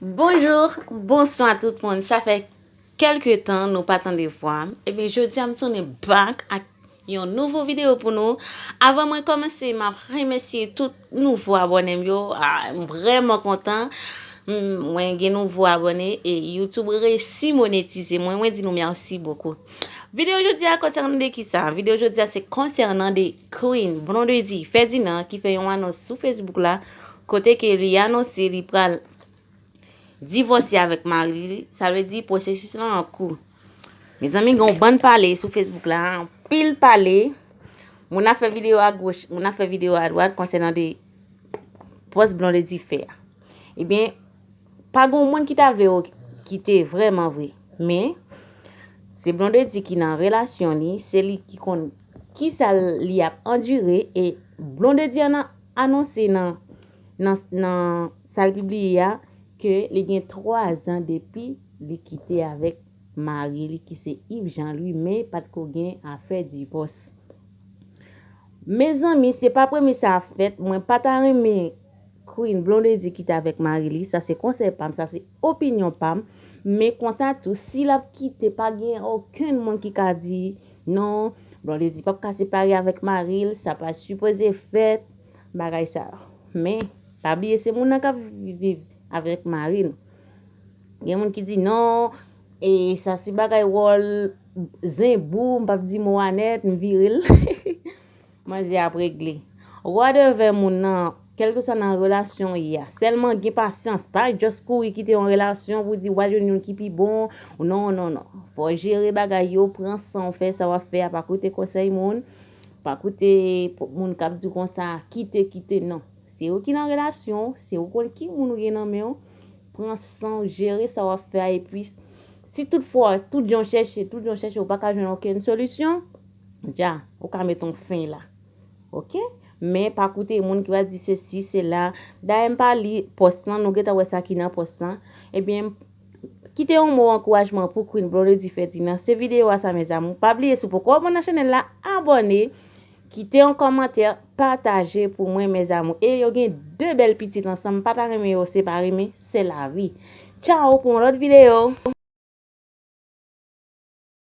Bonjour bonswa tout moun sa fè kelke tan nou pa tande vwam ebyen jodia m tounen back ak yon nouvo video pou nou avan mwen komanse map remèsye tout nouvo abòne m yo m vrèman kontan mwen gen nouvo abòne e youtube resi monetize mwen mwen di nou merci bokou video jodia konsènan de kisa video jodia se konsènan de Queen Blondedy Ferdinand ki fè yon anons sou facebook la kote ke li anonse li pral divòse avèk mari li, sa vle di pwosesis lan an kou. Mezanmi gen yon bann pale sou Facebook la, anpil pale, moun ap fè videyo a goch, moun ap fè videyo a dwat konsènan de pòs Blondedy fè a. Ebyen, pa gen yon moun ki ta vle yo kite vrèman vre, men se Blondedy ki nan relasyon li, se li ki konn kisa li ap andire e Blondedy an anonse nan nan nan sa l pibliye a ke li gen 3 zan depi li kite avèk mari li ki se Yves Jean Louis men pat ko gen afè divòs. Mezanmi se pa premye sa ap fèt mwen pa ta renmen Queen Blondedy kite avèk mari li sa se konsèy pa m sa se Opinyon pam, men konsa tou si lap kite pa gen okenn moun ki ka di non Blondedy pap ka separe avèk maril sa pa sipoze fèt bagay sa yo men pa bliye se moun nan kap viv avèk mari l gen moun ki di non e sa se bagay wòl zen bou m pap di mo a nèt m vire l. Manzè ap regle. Rod envè moun nan kelkeswa nan relasyon ou ye a. Selman gen pasyans, pa just kouri kite yon relasyon pou di wal jwenn youn ki pi bon, non non non. Fò w jere bagay yo, pran san w fè sa wap fè a, pa koute konsèy moun, pa koute moun kap di w konsa, kite kite non. Se ou ki nan relasyon w, se ou konn ki moun ou gen nan men w, pran san w jere sa wap fè a epi si tout fwa tout jan w chèche, tout jan w chèche ou paka jwenn okenn solisyon, Dja, ou ka met yon fen la. Ok. Men, pa koute moun ki pral di sesi, sela. Dayè m pa li pòs lan, nou gentan wè sa ki nan pòs lan. Ebyen, kite yon mo ankourajman pou Queen Blondedy Ferdinand. Se videyo a sa mes amours. Pa bliye si w poko abòne nan chanèl la, abòne. Kite yon kòmantè, pataje pou mwen mes amours. E yo gen 2 bèl pitit ansanm, m pa ta renmen yo separe men, se lavi. Tchao pou yon lòt videyo!